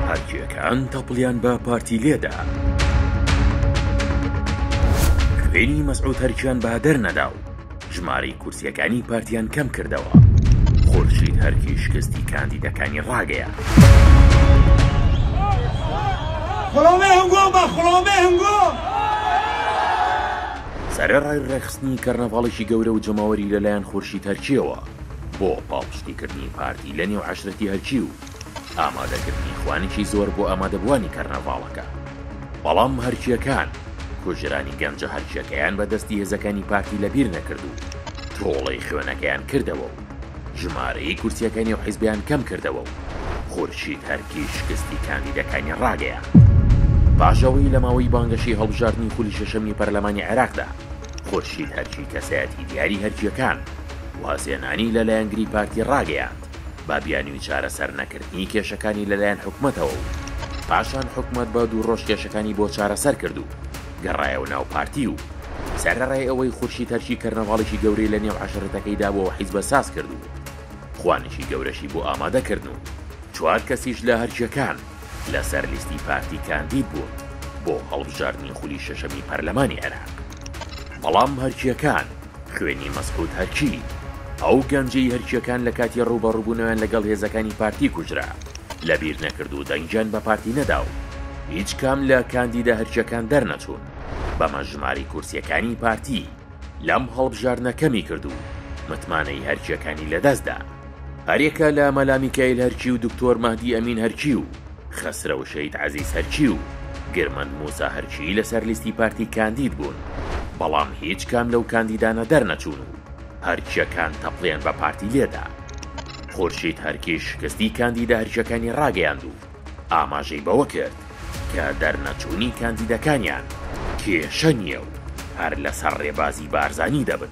هەرکێکان تەپڵیان بە پارتی لێدا خوێنی مەسعود هەرکیان بە دەر نەدا و ژمارەی کورسیەکانی پارتیان کەم کردەوە خورشید هەرکی شکستی کاندیدەکانی ڕاگەیە سەرەڕای ڕێخستنی کەرنەڤاڵێکی گەورە و جەماوەری لەلایەن خورشی تەرکیەوە بۆ پاڵپشتیکردنی پارتی ی لە نێو عەشرەتی ئەرکی و ئامادەکردنی خوانێکی زۆر بۆ ئامادەبووانی کەرنەڤاڵەکە، بەڵام هەرکییەکان کوژرانی گەنجە هەرکییەکەیان بە دەستی هێزەکانی پارتی لە بیر نەکرد و تۆڵەی خوێنەکەیان کردەوە و ژمارەی کورسییەکە نێو حیزبیان کەم کردەوە و خورشید هەرکی شکستی کاندیدەکانی ڕاگەیاند. پاش ئەوەی لە ماوەی بانگەشەی هەڵبژاردنی خولی شەشەمی پەرلەمانی عێراقدا خورشید هەرکی کەسایەتی دیاری هەرکییەکان، وازهێنانی لە لایەنگری پارتی ڕاگەیاند، با بیانوی چارەسەر نەکردنی کێشەکانی لە لایەن حکومەتەوە و پاشان حکومەت بە دوو ڕۆژ کێشەکانی بۆ چارەسەر کرد و گەڕایەوە ناو پارتی و سەرەڕای ئەوەی خورشید هەرچی کەرنەڤاڵێکی گەورەی لە نێو عەشرەتەکەی دابوو و حیزبە ساز کرد و خوانێکی گەورەشی بۆ ئامادە کردن و چوار کەسیش لە هەرکیەکان لە سەر لیستی پارتی کاندید بوون بۆ هەڵبژاردنی خولی شەشەمی پەرلەمانی عێراق بەڵام هەرکیەکان خوێنی مەسعود هەرکی، ئەو گەنجەی هەرکییەکان لە کاتی ڕووبەڕووبوونەوەیان لەگەڵ هێزەکانی پارتی کوژرا، لەبیر نەکرد و دەنگیان بە پارتی نەدا و هیچ کام لە کاندیدە هەرکییەکان دەرنەچوون، بەمەش ژمارەی کورسییەکانی پارتی لەم هەڵبژاردنە کەمی کرد و متمانەی هەرکییەکانی لەدەست دا. هەریەکە لە مەلا میکاییل هەرکی و دکتۆر مەهدی ئەمین هەرکی و خەسرەو شەید عەزیز هەرچی و گرمەند موسا هەرچی لەسەر لیستی پارتی کاندید بوون، بەڵام هیچ کام لەو کاندیدانە دەرنەچوون و هەرکیەکان تەپڵیان بە پارتی لێدا. خورشید هەرکی شکستی کاندیدە هەرکیەکانی ڕاگەیاند و ئاماژەی بەوە کرد کە دەرنەچوونی کاندیدەکانیان کێشە نییە و هەر لەسەر ڕێبازی بارزانی دەبن.